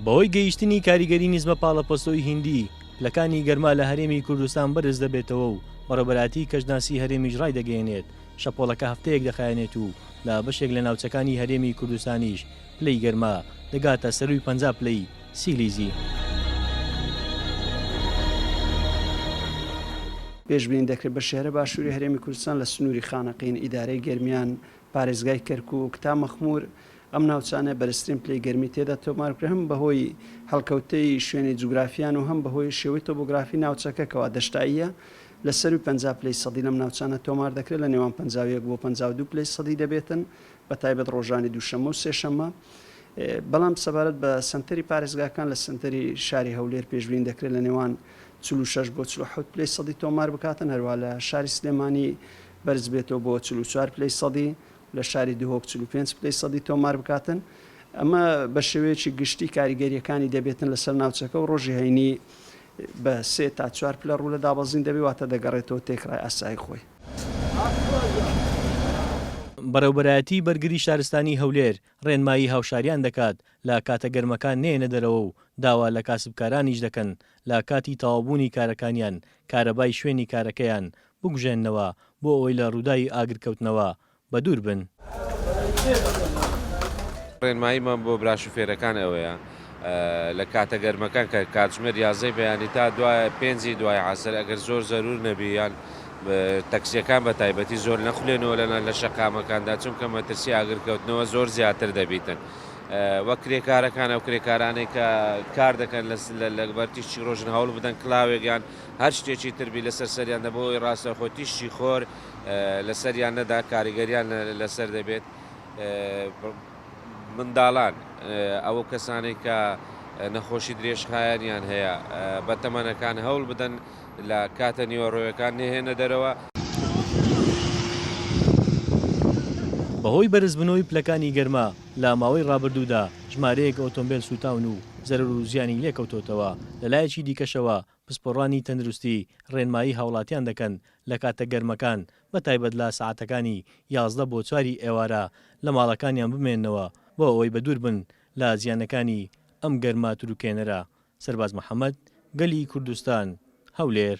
بەهۆی گەیشتنی کاریگەری نیزمە پاڵەپەستۆی هیندی، پلەکانی گەرما لە هەرێمی کوردستان بەرز دەبێتەوە و بەڕێوەبەرایەتی کەشناسی هەرێمیش ڕایدەگەیەنێت، شەپۆڵەکە هەفتەیەک دەخایەنێت و لە بەشێک لە ناوچەکانی هەرێمی کوردستانیش پلەی گەرما دەگاتە سەرووی پەنجا پلەی سیلیزی. پێشبینی دەکرێت بە شێرە باشووری هەرێمی کوردستان لە سنووری خانەقین، ئیدارەی گەرمیان، پارێزگای کەرکووک تا مەخموور ئەم ناوچانەیە بەرزترین پلەی گەرمی تێدا تۆمار بکرێت هەم بەهۆی هەڵکەوتەی شوێنی جوگرافیان و هەم بەهۆی شێوەی تۆبۆگرافی ناوچەکە کەوا دەشتاییە لە سەرووی پەنجا پلەی سەدی لەم ناوچانە تۆمار دەکرێت لە نێوان پەنجا و یەک بۆ پەنجا و دوو پلەی سەدی دەبێتن بە تایبەت ڕۆژانی دووشەممە و سێشەممە، بەڵام سەبارەت بە سەنتەری پارێزگاکان لە سەنتەری شاری هەولێر پێشبینی دەکرێت لە نێوان چل و شەش بۆ چل و حەوت پلەی سەدی تۆمار بکاتن، هەروەها لە شاری سلێمانی بەرزبێتەوە بۆ چل و چوار پلەی سەدی، لە شاری دهۆک چل و پێنج پلەی سەدی تۆمار بکاتن، ئەمە بە شێوەیەکی گشتی کاریگەرییەکانی دەبێتن لەسەر ناوچەکە و ڕۆژی هەینی بە سێ تا چوار پلە ڕوو لە دابەزین دەبێت، واتە دەگەڕێتەوە تێکڕای ئاسایی خۆی. بەڕێوبەرایەتی بەرگری شارستانی هەولێر ڕێنمایی هاوشاریان دەکات لە کاتە گەرمەکان نێنە دەرەوە و داوا لە کاسبکارانیش دەکەن لە کاتی تەواوبوونی کارەکانیان کارەبای شوێنی کارەکەیان بکوژێننەوە بۆ ئەوەی لە ڕووداوی ئاگرکەوتنەوە بەدوور بن. ڕێنماییمان بۆ برا شوفێرەکان ئەوەیە لە کاتە گەرمەکان کە کاتژمێر یازدەی بەیانی تا دوای پێنجی دوای عەسر ئەگەر زۆر زەروور نەبی یان تەکسیەکان بە تایبەتی زۆر نەخولێنەوە لەنا لە شەقامەکاندا چونکە مەترسی ئاگرکەوتنەوە زۆر زیاتر دەبیتن وە کرێکارەکان ئەو کرێکارانەی کە کار دەکەن لەگبەر تیشتی ڕۆژن هەوڵ بدەن کلااوێکیان هەر شتێکی تربی لەسەر سەریان دەبەوەی ڕاستەخۆ تیشتی خۆر لەسەریان نەدا کاریگەریان لەسەر دەبێت منداڵان ئەوە کەسانێک کە نەخۆشی درێژخایەنیان هەیە بە تەمەنەکان هەوڵ بدەن لە کاتە نیوەڕۆیەکان نهێنە دەرەوە. بەهۆی بەرزبونەوەی پلەکانی گەرما لە ماوەی رابردوودا ژمارەیەک ئۆتۆمبێل سوتاون و زەرەرو زیانی لێکەوتۆتەوە، لەلایەکی دیکەشەوە پسپۆڕانی تەندروستی ڕێنمایی هاوڵاتیان دەکەن لە کاتە گەرمەکان بە تایبەت لە سەعاتەکانی یازدە بۆ چواری ئێوارە لە ماڵەکانیان بمێننەوە بۆ ئەوەی بە دوور بن لە زیانەکانی ئەم گەرما تروکێنەرە سەرباز محەمەد، گەلی کوردستان، هەولێر.